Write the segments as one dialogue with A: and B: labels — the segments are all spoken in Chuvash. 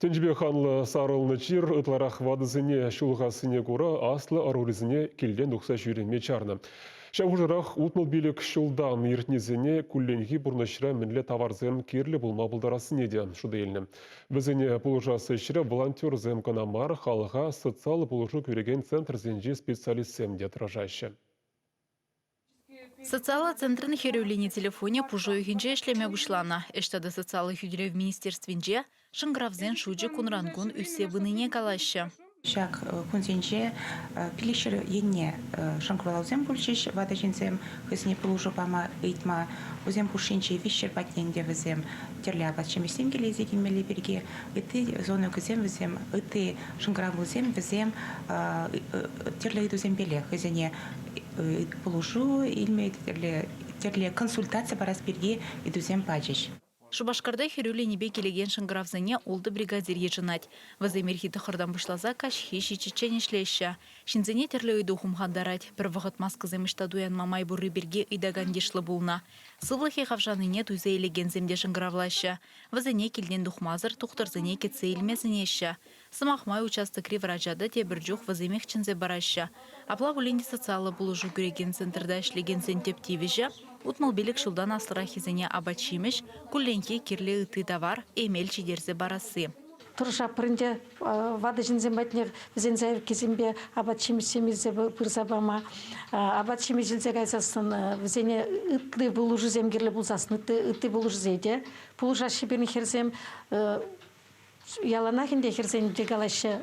A: Тӗнчипе ханлӑ сарӑлнӑ чир ытларах ватӑсене ҫулхассине кура аслӑ ӑрурисене килтен тухса ҫӳреме чарнӑ. Ҫав хушӑрах утмӑл пилӗк ҫултан иртнисене кулленхи пурнӑҫра мӗнле таварсем кирлӗ пулма пултарассине те шута илнӗ. Вӗсене пулӑшас ӗҫре волонтерсем кӑна мар, халӑха социаллӑ пулӑшу кӳрекен центрсенчи специалистсем те тӑрӑшаҫҫӗ.
B: Социаллӑ центрӑн хӗрӳллини телефонӗ пушӑ уйӑхӗнче ӗҫлеме пуҫланӑ. Ӗҫ тата социаллӑ хӳтӗлев министерствинче шӑнкӑравсен шучӗ кунран-кун ӳссе пынине калаҫҫӗ. Ҫак
C: кунсенче пилӗкҫӗр енне шӑнкӑравлавсем пулчӗҫ ватӑ ҫынсем хӑйсене пулӑшу пама ыйтма. Вӗсем хушшинче виҫҫӗр патне ӗнтӗ вӗсем тӗрлӗ апат-ҫимӗҫсем киле илсе килмелли пирки ытти зонӑкӑсем вӗсем ытти шӑнкӑравлусем вӗсем тӗрлӗ ыйтусемпеле хӑйсене пулӑшу илме тӗрлӗ консультаци парас пирки ыйтусем пачӗҫ. Шупашкарта хӗрӳ
B: линипе килекен шӑнкӑравсене ултӑ бригадир йышӑнать. Вӗсем ирхи тӑххӑртан пуҫласа каҫхи ҫиччӗччен ӗҫлеҫҫӗ. Ҫынсене тӗрлӗ ыйту хумхантарать, пӗр вӑхӑт маскӑсем ӑҫта туянма май пурри пирки ыйтакан йышлӑ пулнӑ. Сывлӑхӗ хавшанине туйса илекенсем те шӑнкӑравлаҫҫӗ. Вӗсене килтен тухмасӑр тухтӑрсене кӗтсе илме сӗнеҫҫӗ. Сӑмах май, участокри врача та тепӗр чух вӗсемех чӗнсе параҫҫӗ. Апла пулин те социаллӑ пулӑшу кӳрекен центрта ӗҫлекенсен тӗп тивӗҫӗ, утмӑл-пилӗк ҫултан аслӑраххисене апат-ҫимӗҫ, кулленхи кирлӗ ытти тавар, эмел ҫитерсе парасси. Тӑрӑшаппӑр ӗнтӗ
D: ватӑ ҫынсем патне, вӗсен заявкисемпе апат-ҫимӗҫсем илсе пырса пама. Апат-ҫимӗҫ илсе кайсассӑн вӗсене ытти пулӑшусем кирлӗ пулсассӑн ытти пулӑшусене те пулӑшаҫҫӗ пирӗн хӗрсем. Яланах ӗнтӗ хӗрсен те калаҫҫӗ,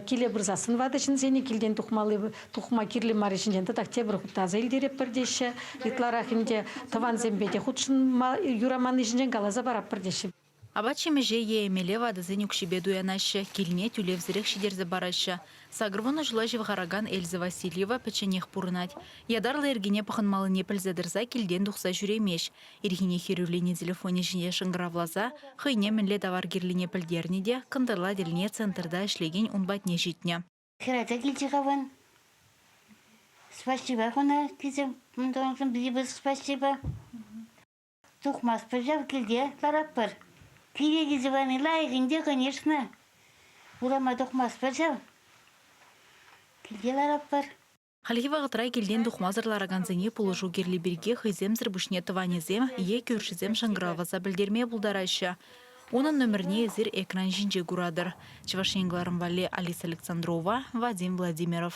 D: киле пырсассӑн ватӑ ҫынсене килтен тухмалли тухма кирлӗ мар ҫинчен тӑтах тепӗр хут таса илтеретпӗр теҫҫӗ. Ытларах ӗнтӗ тӑвансемпе те хутшӑнма юраманни ҫинчен каласа паратпӑр теҫҫӗ. Апат-ҫимӗҫе
B: е эмеле ватӑсен укҫипе туянаҫҫӗ, килне тӳлевсӗрех ҫитерсе параҫҫӗ. Сакӑрвунӑ ҫула ҫывхаракан Эльза Васильева пӗчченех пурӑнать. Ятарлӑ йӗркене пӑхӑнмаллине пӗлсе тӑрса килтен тухса ҫӳремест. Ирхине хӗрӳлени телефонӗ ҫине шӑнкӑравласа хӑйне мӗнле тавар кирлине пӗлтернӗ те кӑнтӑрла тӗлне центрта ӗҫлекен ун патне ҫитнӗ. Хӗрача килчӗ-ха
E: вӑн. Спасибо хӑна килсем унтаншӑн пӗтӗмпех спасибо. Тухмастпӑр ҫав килте, ларатпӑр. Киле килсе пани лайӑх ӗнтӗ, конечно. Урама тухмастпӑр ҫав. Килте ларатпӑр. Хальхи вӑхӑтра
B: килтен тухмасӑр ларакансене пулӑшу кирли пирки хӑйсемсӗр пуҫне тӑванӗсем е кӳршӗсем шӑнкӑравласа пӗлтерме пултараҫҫӗ. Унӑн номерне эсир экран ҫинче куратӑр. Чӑваш Ен кӑларӑм валли Алиса Александрова, Вадим Владимиров.